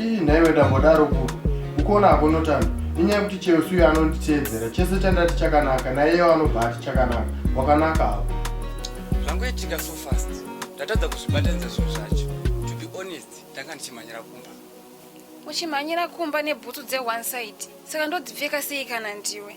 ii nhaiwe ndambodaro ku ukuona hako notani inyaya kuti cheusi uyo anonditeedzera chese chandati chakanaka naiyewo anobva ati chakanaka wakanaka hako zvangoitika so fast ndatadza kuzvibatanidza zvinhu zvacho to be honest ndanga ndichimhanyira kumba uchimhanyira kumba nebhutsu dzeone side saka ndodzipfeka sei kana ndiwe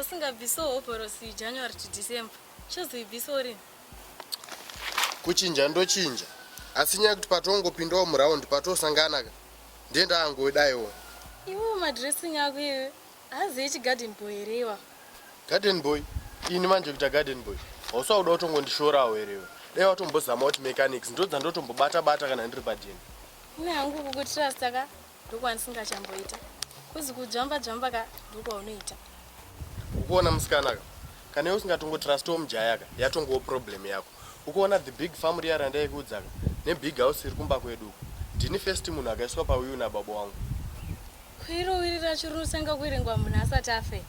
usingabvise hovhorosi january to december chozoibvisa urini kuchinja ndochinja asi nyaya kuti patongopindawo muraundi patosangana ka ndiye ndaangoidaiwo iwe madressing ako iwe Hanzi ichi garden boy here iwawo. Garden boy? Ini manje kuita garden boy? Hausi wakuda kutongondishorawo here iwe? Dai watombozama kuti mechanics ndodzandotombobata bata kana ndiri padeni. Ini hangu kukutrasta ka ndokwandisingachamboita. Kuzi kujamba jamba ka ndokwaunoita. Ukuona musikana ka? Kana iwe usingatongotrastiwo mujaya ka yatongowo problem yako. Ukuona the big farm riya randaikuudzaka ne big house riri kumba kwedu uko. Ndini first munhu akaiswa pawiwi na baba wangu. Kwiro wiri racho riri kutanga kuerengwa munhu asati afe.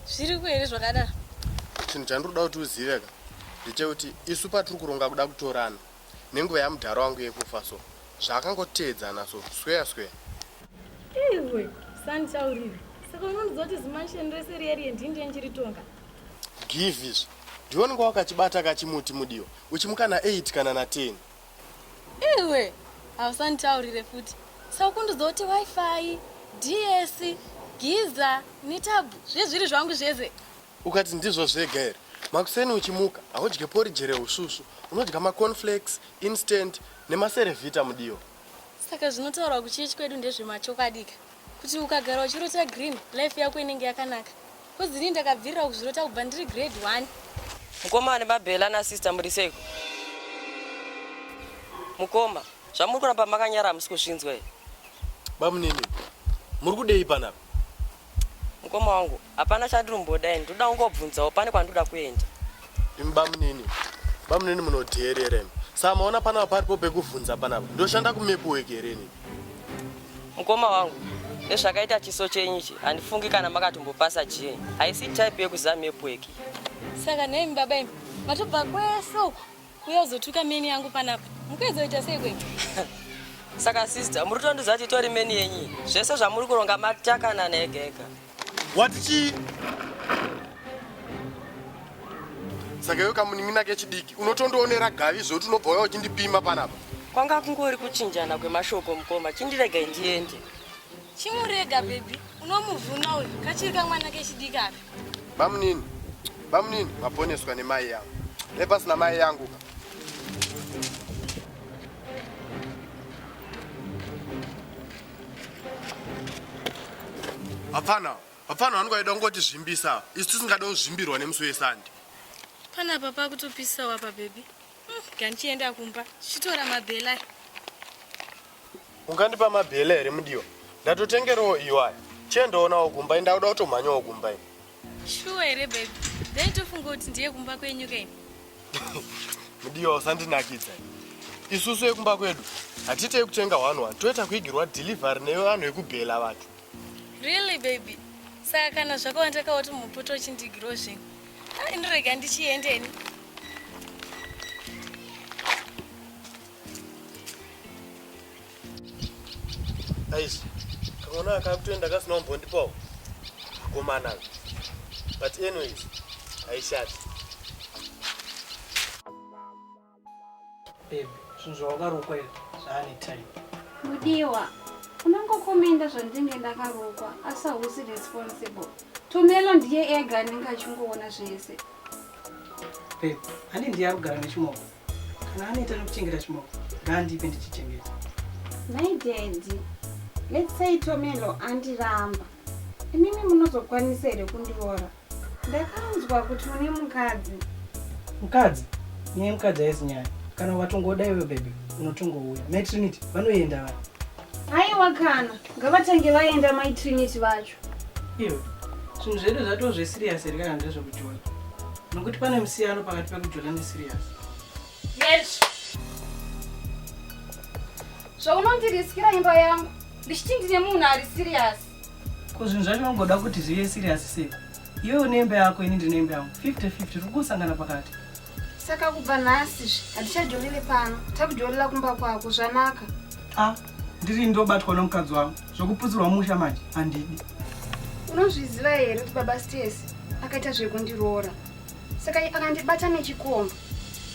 Zviriko here zvakadaro? Chinhu chandiri kuda kuti uzive ka ndechekuti isu patiri kuronga kuda kutorana nenguva yamudhara wangu yekufa so zvaakangoteedzana so sweya sweya. Iwe sanditaurire saka unondiziva kuti zimansion rese riya riye ndini ndiye ndiritonga. Give izvi. Ndiwe unenge wakachibata kachimuti mudiwa uchimuka na 8 kana na 10. Iwe hausanditaurire futi. Saukundudzo kuti wifi, DS, giza, nitabu zvezviri zvangu zvese. Ukati ndizvo zvega here? Makuseni uchimuka haudye porridge rehusvusvu, unodya ma cornflakes, instant nema cerevita mudiwa. Saka zvinotaurwa kuchechi kwedu ndezvemachokwadi ka kuti ukagara uchirota green life yako inenge yakanaka. Coz ini ndakabvirira kuzvirota kubva ndiri grade one. Mukoma ane mabhela na sister muri seiko? Mukoma, zvamuri kuramba makanyara hamusi kuzvinzwa here? Bamunini, muri kudei panapa? Mukoma wangu, hapana chandirumboda ini, ndoda kungobvunzawo pane kwandoda kuenda. Imi bamunini, bamunini munodheerera imi. Saka maona panapa paripo pekuvhunza panapa. Ndoshanda kumepu weki here ini? Mukoma wangu, nezvakaita chiso chenyu ichi handifungi kana makatombopasa jee. Haisi type yekuziva mepu weki. Saka nemi baba imi matobva kwese uko kuuya kuzotuka meni yangu panapa. Mukuedzoita sei kwenyu? Saka sister, muri kutondiudza kuti itori meni yenyu. Zvese zvamuri kuronga matakanana ega ega. wati chii saka iwe kamunin'ina kechidiki unotondionera gavi zvekuti unobva uya uchindipima panapa kwanga kungori kuchinjana kwemashoko mukoma chindiregai ndiende chimurega bebi unomuvhuna uyu kachiri kamwana kechidiki aka bamunini bamunini maponeswa nemai yangu nepasina mai yangu ka hapana hapana vanhu vaida kungoti zvimbisa isu tisingada kuzvimbirwa nemusi wesande pana apa pakutopisa wapa bebi hmm, gandichienda kumba chitora mabhela ungandipa mabhela here mudiwa ndatotengerawo iwaya chiendaonawo kumba indakuda kutomhanyawo kumba ini Shuwa here baby? Ndaitofunga kuti ndiye kumba kwenyu kei. Mudiwa usandinakidza. Isusu yekumba kwedu hatite yekutenga one one toita kuigirwa delivery nevanhu vekubhela vanhu. Really baby? Saka kana zvakawanda kawoti mupoto uchindigirwa zvinhu. Ah, indirega ndichiendeni. Aish, kaona akakutoenda kasina umbondipawo akomana but anyways aishati babe zvinhu zvawakarukwa izvi zvaane time mudiwa unongokomenda zvandinge ndakarukwa asi hausi responsible tumelo ndiye ega anenge achingoona zvese babe ani ndiye ari kugara nechimoko Kana anoita nekuchengeta chimoko ngaandipe ndichichengeta. My daddy, let's say Tomelo andiramba. Imimi munozokwanisa here kundiroora? Ndakanzwa kuti une mukadzi. Mukadzi? Nyaya mukadzi haisi nyaya. Kana watongoda iwe baby, unotongouya. Mai Trinity vanoenda vaya. Haiwa kana, ngavatange vaenda mai Trinity vacho. Iwe zvinhu zvedu zvatoo zvesirius here kana ndezvekujona nokuti pane musiyano pakati pekujona nesirius yes zvaunondiriskira imba yangu ndichiti ndine munhu ari sirius ko zvinhu zvacho unongoda kuti zvive sirius sei iwe une imba yako ini ndine imba yangu 50 50 tiri kusangana pakati Saka kubva nhasi zve hatichajolele pano, takujolela kumba kwako zvanaka. Ah, ndiri ndobatwa nomukadzi wangu zvokuputsirwa musha manje handidi. Unozviziva here kuti baba Stesi akaita zvekundiroora saka akandibata nechikomba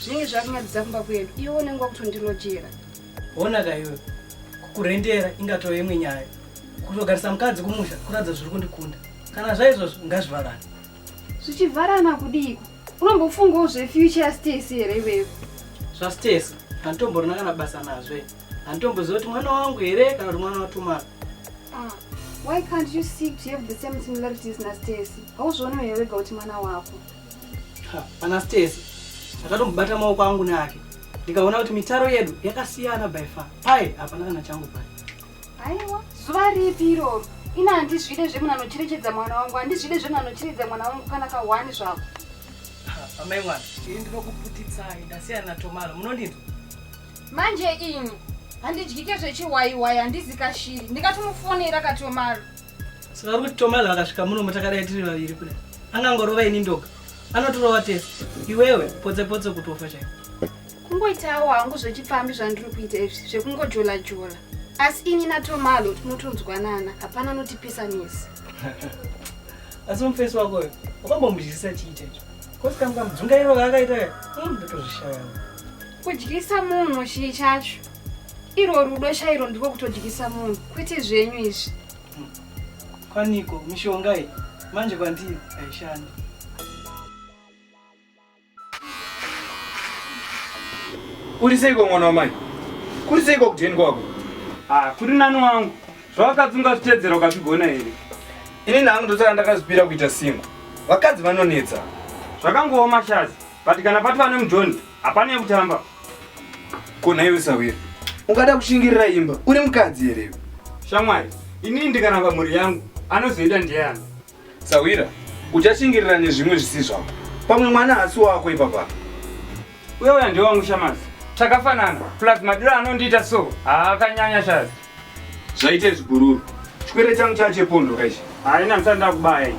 zvinenge zvakunyadzidza kumba kwedu iwe unenge wakutondilojera. Hona ka iwe kukurendera ingatove imwe nyaya kutogarisa mukadzi kumusha kuratidza zviri kundikunda kana zvaizvozvo ngazvivharane. Zvichivharana kudiiko? unombofungawo zvefuture yastacy here iweyo zvastacy handitomborina kana basa nazve handitomboziva kuti mwana wangu here kana kuti mwana watumana ah, why can't you seek to have the same similarities nastacy hauzvionewo here wega kuti mwana wako pana stacy ndakatombobata maoko angu neake ndikaona kuti mitaro yedu yakasiyana by far paye hapana kana changu paye Aiwa, zuva ripi iroro? Ina handizvide zvemunhu anocherechedza mwana wangu, handizvide zvemunhu anocherechedza mwana wangu kana kahwani zvako. Amai mwana, ini ndinokuputitsai, ndasiyana naTomaro, munondinzwa? Manje ini handidyike zvechiwaiwai, handizi kashiri, ndikatomufonera kaTomaro. Saka uri kuti Tomaro akasvika muno mutakadai tiri vaviri kudai, angangorova ini ndoga, anotirova tese, iwewe potse potse kutofa chaiko. kungoitawo hangu zvechipfambi zvandiri kuita izvi zvekungojola jola asi ini natomalo tinotonzwanana hapana notipisa nesi asi mufesi wako uyo wakambomudyisisa chii chaicho kosi kamu kamudzungairo kaakaita ka hmm, ndotozvishaya kudyisa munhu chii chacho irwo rudo chairo ndiko kutodyisa munhu kwete zvenyu izvi hmm. kwaniko mishonga iyi manje kwandiri haishandi Uri seiko mwana wamai? Kuri seiko kudheni kwako? Ah, kuri nani wangu. Zvawakadzi ungazvitedzera ukazvigona here? Ini nangu ndosaka ndakazvipira kuita singo. Vakadzi vanonetsa. Zvakangooma shazi. But kana pati vane mujoni, hapana yekutamba. Kona iwe sawira. Ungada kushingirira imba. Uri mukadzi here iwe? Shamwari, ini ndikaramba mhuri yangu, anozoita ndiyani? Sahwira, uchashingirira nezvimwe zvisi zvako. Pamwe mwana hasi wako ipapa. Uye uya ndiwe wangu Shamazi. Takafanana. Plus madiro anondiita so. Haakanyanya Shazi. Zvaite zvigururu. Chikwere changu chache pondo kaishi. Haina msanda kubaya.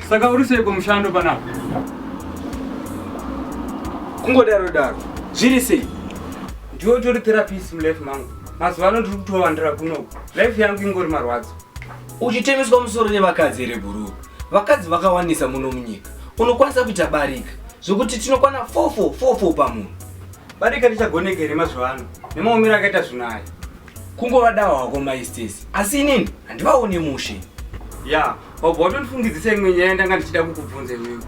Saka uri sei kumushando panapa? Kungodaro daro. Zviri sei? Ndiwe utori therapist mulife mangu. mazuva ano ndiri kutowandira kunoku life yangu ingori marwadzo uchitemiswa musoro nevakadzi here bhuruu vakadzi vakawanisa muno munyika unokwanisa kuita barika zvekuti tinokwana fofo fofo pamunhu barika richagoneka here mazuva ano nemaomero akaita zvinhu aya kungovadawa hako maistesi asi inini handivaone mushe ya yeah. wabva watondifungidzisa imwe nyaya ndanga ndichida kukubvunza iwewe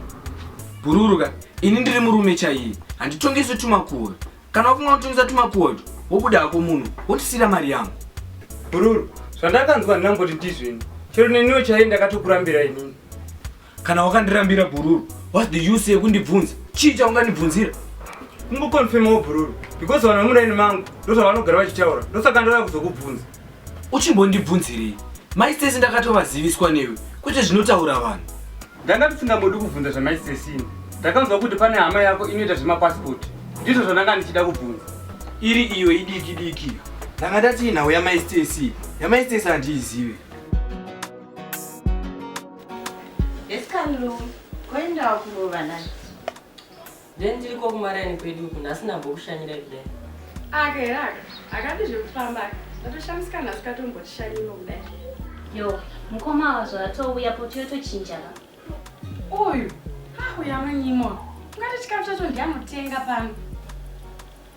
bhururuka ini ndiri murume chaiye handitongeso tumakuva Kana wafunga kutumisa tumakuwa utu, wobuda hako muno, wotisira mari yangu. Bhururu, zvandakanzwa handinamboti ndizvini. Chero neniwo chaiye ndakatokurambira inini. Kana wakandirambira bhururu, what's the use yekundibvunza? Chii chaungandibvunzira? Kungokonfirmawo bhururu because vanhu vemuraini mangu ndozvavanogara vachitaura ndosaka ndauya kuzokubvunza. Uchimbondibvunzirei? Mai Stacy ndakatovaziviswa newe kwete zvinotaura vanhu. Ndanga ndisingambodi kubvunza zvamai Stacy ini. Ndakanzwa kuti pane hama yako inoita zvemapassport. Ndizvo zvandanga ndichida kubvunza. Iri iyo idiki diki. Ndanga ndati inhau yamai Stacy. Yamai Stacy handiizive. Yes Kalu, koendawo kurova nani? then tiriko kumaraini kwedu uku nhasi ndambokushanyirai kudai aka here aka akati zvekufamba aka ndatoshamisika nhasi katombotishanyiwo kudai yo mukoma ava zvatouya poti yotochinjaka uyu auya manyimo ungati chikafu chacho ndianotenga pano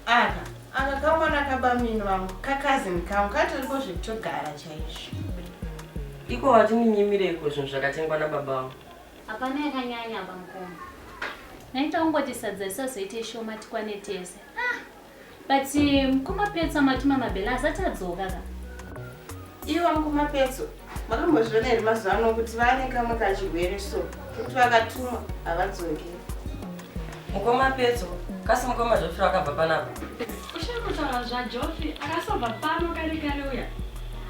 aka aka kamwana kabamini vangu kakazini kangu katoriko zvekutogara chaizvo iko watiminyimireiko zvinhu zvakatengwa nababa vangu Hapana yakanyanya apa mukoma. Naita ungoti sadza risazoite shoma tikwane tese. Ah, but eh, mukoma petsa matuma mabhela asati adzoka ka. Ivo mukoma petso makambozviona here mazuva ano kuti vane kamwe kachirwere so kuti vakatumwa havadzoke Mukoma Petso, kasi mukoma Joffrey wakabva panapa? Ushaya kutaura zvaJoffrey, akasobva pano kare kare uya.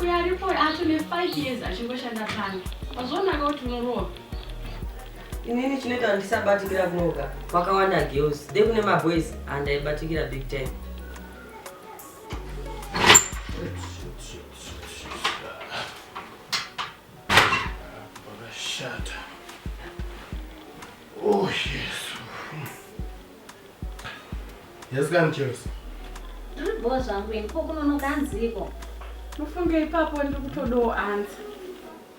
Uya aripo acho ne5 years achingoshanda pano. Wazvionaka kuti unorohwa. Inini chinoita handisabatikira kunoka. Wakawanda girls, de kune maboys handaibatikira big time. Pakashata. Oh, Jesu. Yes, kani Chelsea. Ndiri bhowa zvangu ini ko kunonoka hanziko. Mufunge ipapo ndiri kutodawo ansa.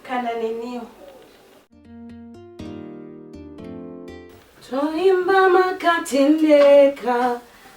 Kana neniwo. Toimba makatendeka.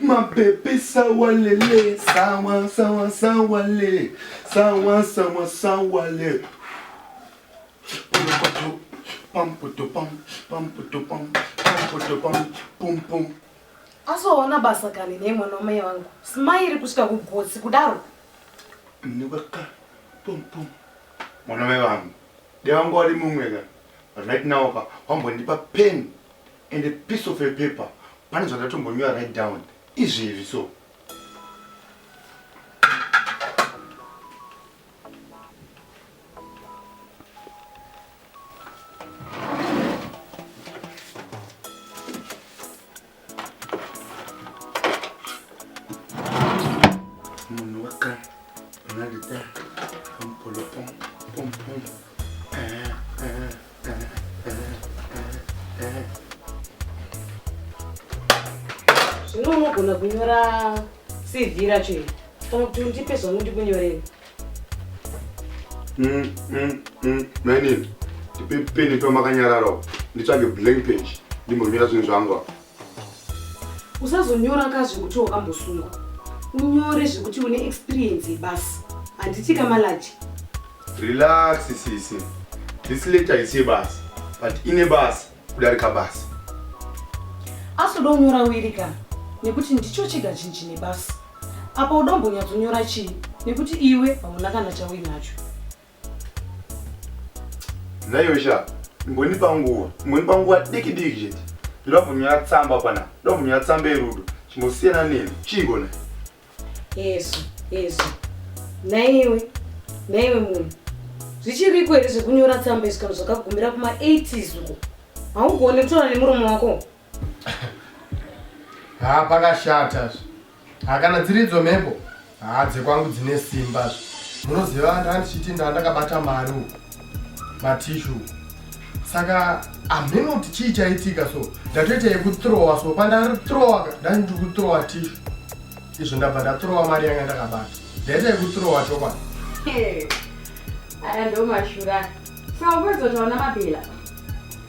Mapepe sawa lele sawa sawa sawa le sawa sawa sawa le Pumpoto pampoto pam pampoto pam pampoto pam pum pum asoona basa kani nei mwana wamai vangu simairi kusvika kugotsi kudaro Nibaka pum pum Mwana mai vangu Dai wanga wari mumwe ka But right now ka wambondipa pen and a piece of a paper pane zvandatombonyora right down izvezvi so zvino unogona kunyora cv racho iri kana kuti undipe zvangu ndikunyorei mm, mm, mm, mainini ndipe peni pamakanyararawo nditsvage blank page ndimbonyora zvinhu zvangu usazonyora ka zvekuti wakambosungwa unyore zvekuti une experience yebasi handiti kamalaji relax sisi this letter haisi yebasi but ine basi kudarika basi asi uda unyora wiri ka nekuti ndicho chega chinhu chine basi apa uda umbonyatsonyora chii nekuti iwe hauna kana chauinacho Nhaiwe sha, imbondipa nguva, imbondipa nguva diki diki chete. Ndoda kunyora tsamba pana, ndoda kunyora tsamba yerudo. Chimbosiyana neni, chiiko na? Yesu, Yesu. Nhaiwe, nhaiwe munhu. Zvichiriko here zvekunyora tsamba izvo kana zvakagumira kuma 80s uko. Haugone kutaura nemuromo wako. Haa pakashata zve. Haa kana dziridzo mhepo. Haa dzekwangu dzine simba zve. Munoziva handichiti ndandakabata mari uku. Matishu. Saka hameno kuti chii chaitika so. Ndatoita yekutrowa so pandari trowa ndandi kutrowa tishu. Izvo ndabva ndatrowa mari yanga ndakabata. Ndaita yekutrowa chokwadi. Aya ndomashura. Saka upedzo taona mabhila.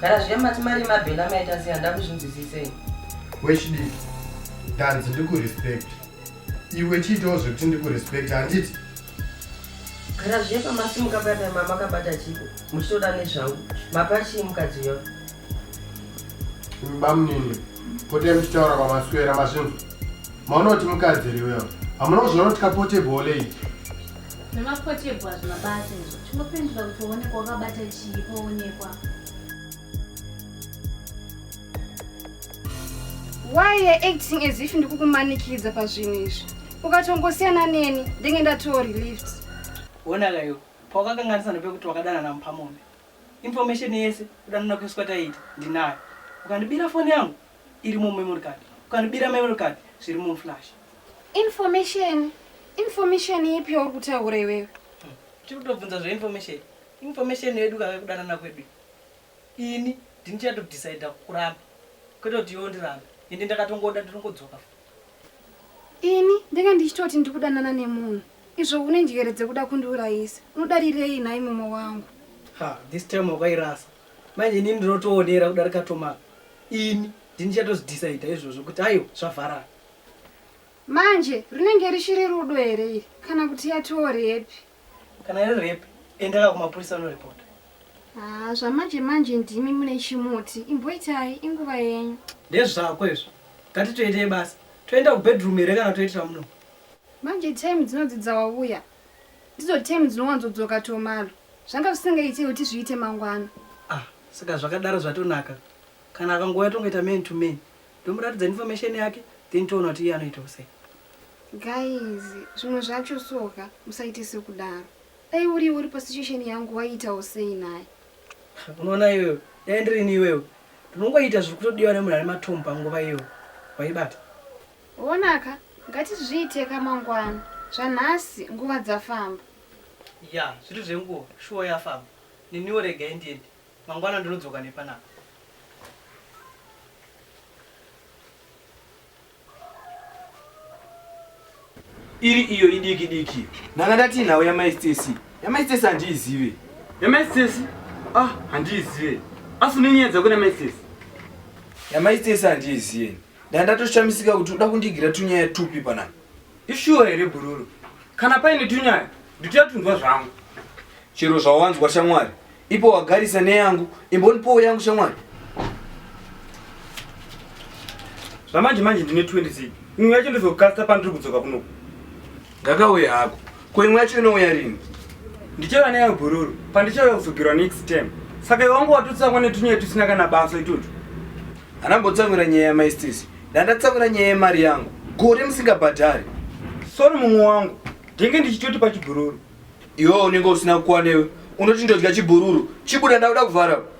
Gara zviya mati mari mabhela maita sei handa kuzvinzwisisei. Wechidiki. Danzi ndiku respect. Iwe chiitawo zvekuti ndiku respect handiti? Gara zviya pamasimuka bata mama kabata chiko. Muchitoda nezvangu. Mapa chii mukadzi uyo? Bamunini. Potai muchitaura kwamaswera mazvinhu. Maona kuti mukadzi riwe. Hamuna kuzviona kuti kapotebhole iyi. Zvemapotebwa zvemabasa izvo chinopindura kuti waonekwa wakabata chii paonekwa. Why you're acting as if ndikukumanikidza pazvinhu izvi? Ukatongosiyana neni ndenge ndatoa relieved. Wona kayo pawakakanganisa nepekuti wakadanana mupamombe. Information yese kudanana kweswa taita ndinayo. Ukandibira foni yangu irimo memory card. Ukandibira memory card zvirimo muflash. Information? Information ipi yauri kutaura iwewe? Tiri kutobvunza zveinformation. Information yedu kave kudanana kwedu. Ini ndini chatodecida kuramba. Kwete kuti iwe undiramba. Ende ndakatongoda nditongodzoka. Ini ndenge ndichitoti ndiri kudanana nemunhu. Izvo une njere dzekuda kundiurayisa. Unodarirei nhai mumwe wangu? Ha, this time wakairasa. Manje ini ndinotoonera kudarika Tomaka. Ini ndini chatozidecida izvozvo kuti aiwa zvavharana. Manje rinenge richiri rudo here iri kana kuti yatoo repi? Kana iri repi, endaka kumapurisa unoripota. Haa, ah, zvamanje manje ndimi mune chimuti. Imboitai, inguva yenyu. Ndezvako izvo. Ngatitoitei basa. Toenda kubedroom here kana toitira muno? Manje time dzinodzidza wavuya. Ndidzo time dzinowanzodzoka tomalo. Zvanga zvisingaitei kuti zviite mangwana. Ah, saka zvakadaro zvatonaka. Kana akangouya tongoita man to man. Ndomuratidza information yake then toona kuti iye anoitawo sei. Guys zvimwe zvacho soka musaite sekudaro. Dai uriwe uri pasituation yangu waiitawo sei naye. Unoona iwewe dai ndirini iwewe ndinongoita zviri kutodiwa nemunhu ane matomu panguva iyoyo waibata. Onaka ngatizviite ka mangwana zvanhasi nguva dzafamba. Yaa zviri zvenguva shuwa yafamba neniwo regai ndiende Mangwana ndinodzoka nepanapa. Iri iyo idiki diki. Nanga ndati nhau yamai Stacy. Yamai Stacy handiizive. Yamai Stacy? Ah, handiizive. Asi unenyaya dzako namai Stacy? Yamai Stacy handiizive. Ndandatoshamisiga kuti uda kundigira tunyaya tupi panapa. Ishuwa here bhururu? Kana paine tunyaya nditotundwa zvangu. Chero zvawanzwa shamwari, ipo wagarisa neyangu, imbonipowo yangu shamwari. Zvamanje manje ndine 20 zii. Imwe yacho ndozokasta pandiri kudzoka kunoku. Ngakauye hako. Ko imwe yacho inouya rini? Ndichava neyo bhururu pandichauya kuzogirwa next term. Saka iwe wangu watotsamwa netunyaya tusina kana basa itutu. Hana mbotsamwira nyaya yamaistisi. Ndandatsamwira nyaya yemari yangu. Gore musingabhadhari. Sorry mumwe wangu. Ndenge ndichitoti pachibhururu. Iwe unenge usina kuwanewe. Unoti ndodya chibhururu. Chibuda ndakuda kuvhara.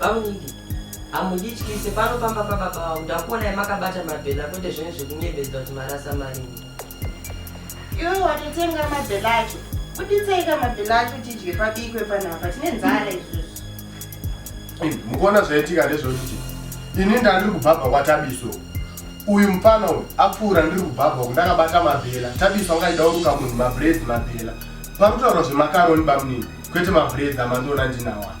Bamunini, hamundityise pano pamba pababa vangu ndakuonai makabata mabhela kwete zvenyu zvekunyebedzwa kuti marasa marini. Iwe watotenga mabhela acho, kuditsaika mabhela acho tidye pabikwe panapa, tine nzara izvozvo. Mukuona zvaitika ndezvokuti ini ndandiri kubhabha kwatabiso uyu mupana uyu apfuura ndiri kubhabha uku ndakabata mabhela tabiso angaida kuruka munhu mabreads mabhela pakutaura zvemakaroni bamunini kwete mabreads amandiona ndinawa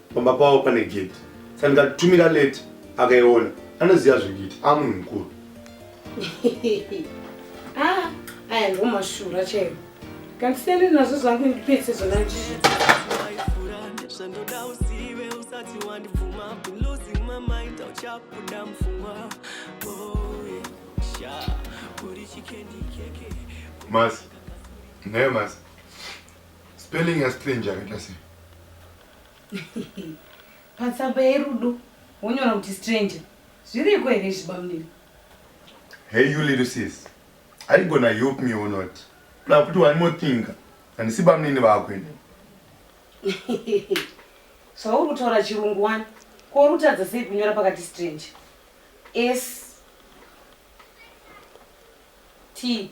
pamba pavo pane gate saka ndikatumira late akaiona anoziva zvekuita amunhu mukuru ah, aya ndo mashura chaivo kandisiyane nazvo zvangu ndipese zvona zvandoda uzive usati wandibvuma losing my mind auchabuda mfungwa boye sha uri chikendi keke mas naye mas spelling ya strange yakaita sei patsamba yerudo wonyora kuti stranger zviriko here zvibamunini hey you little sis are you gonna help me or not kuna kuti one more thing handisi bamunini vako ini zvauri kutaura chirungu wani ko uri kutadza sei kunyora pakati stranger s t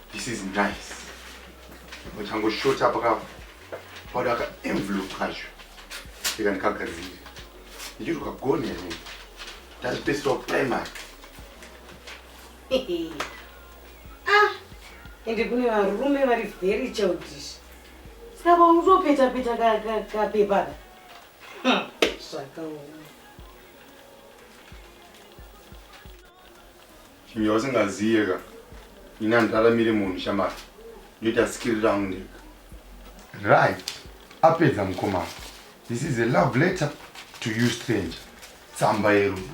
This is nice. Uchangoshota paka pauda ka envelope kacho. Ika ndikagadzire. Ndichiri kagoni here? Ndazvipeswa primary. ah, ende kune varume vari very childish. Saka paunotopeta peta kapepa ka, ka, zvakaoma. Chinhu chausingaziye ka ini handiraramire munhu shamari ndoita sikiri rangu ndega right apedza mukomana this is a love letter to you stranger tsamba yerudo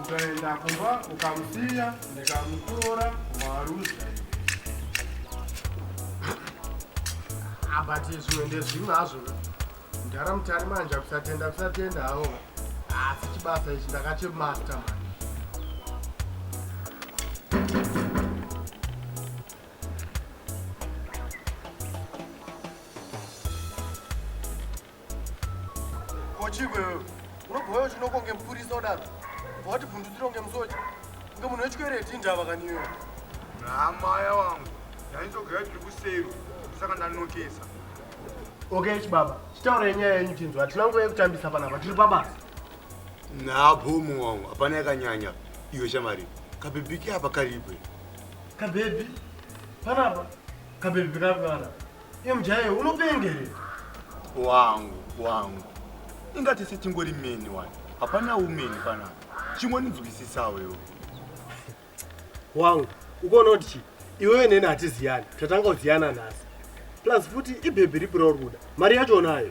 ukaenda kumba ukamusiya ndikamutora kumaruzha abati ah, zvimwe ndezvimwe hazvo mdhara mutari manje kusatenda kusatenda hawo asi ah, chibasa ichi ndakachemasta mani Kochigwe wewe unobhoyo chinoko kunge mupurisa udaro bva wati bvundutsiro kunge musocha kunge munhu wechikwereti indava kaniyo naamaya wangu ndainzogaya tiri kusero saka ndanokesa okay chibaba chitaura yenyaya yenyu tinzwa hatina nguva yekutambisa panapa tiri pabasa nabhomu wangu hapana yakanyanya iyo shamari kabhebhiki apa karibwe kabhebhi panapa kabhebhi kapi panapa Iye mujaya iwe unopenga here? Wangu, wangu. Inga tese tingori meni wani. Hapana umeni panapa. Chingoninzwisisawo iwe. Wangu, ukoona kuti chii? Iwewe neni hatiziyani. Tatanga kuziyana nhasi. Plus futi ibhebhi ripi rauri kuda? Mari yacho unayo?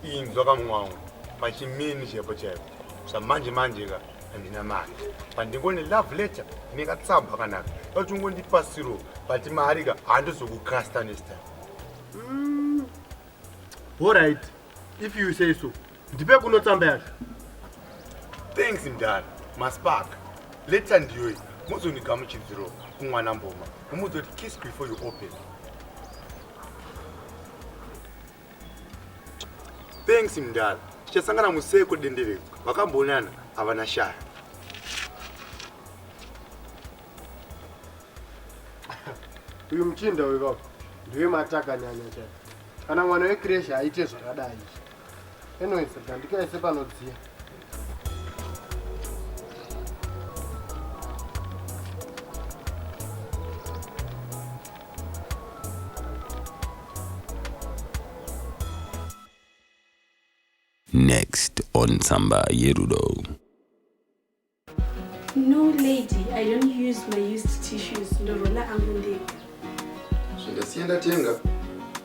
inzwa pamwe wangu pachimini chaipo chaipo zvamanje manje ka handina mari pandingone love letter nekatsamba kakanaka kuti ungondipasiro but mari ka handizokucasta next time mm. allright if you say so ndipe kuno tsamba yacho thanks mdara maspark letter ndiyoyi muzondigamuchidziro kumwana mboma umuzoti kiss before you open Thanks mdara. Tichasangana museko denderedzwa. Vakambonana havana shaya. Uyu muchinda uyu baba ndiwe mataka nyanya chaiyo. Kana mwana wekreshi aite zvakadai. Anyways, gandikaise panodziya. Next on Samba Yerudo. No lady, I don't use my used tissues. Ndorola angu ndega. Zvindasienda tenga.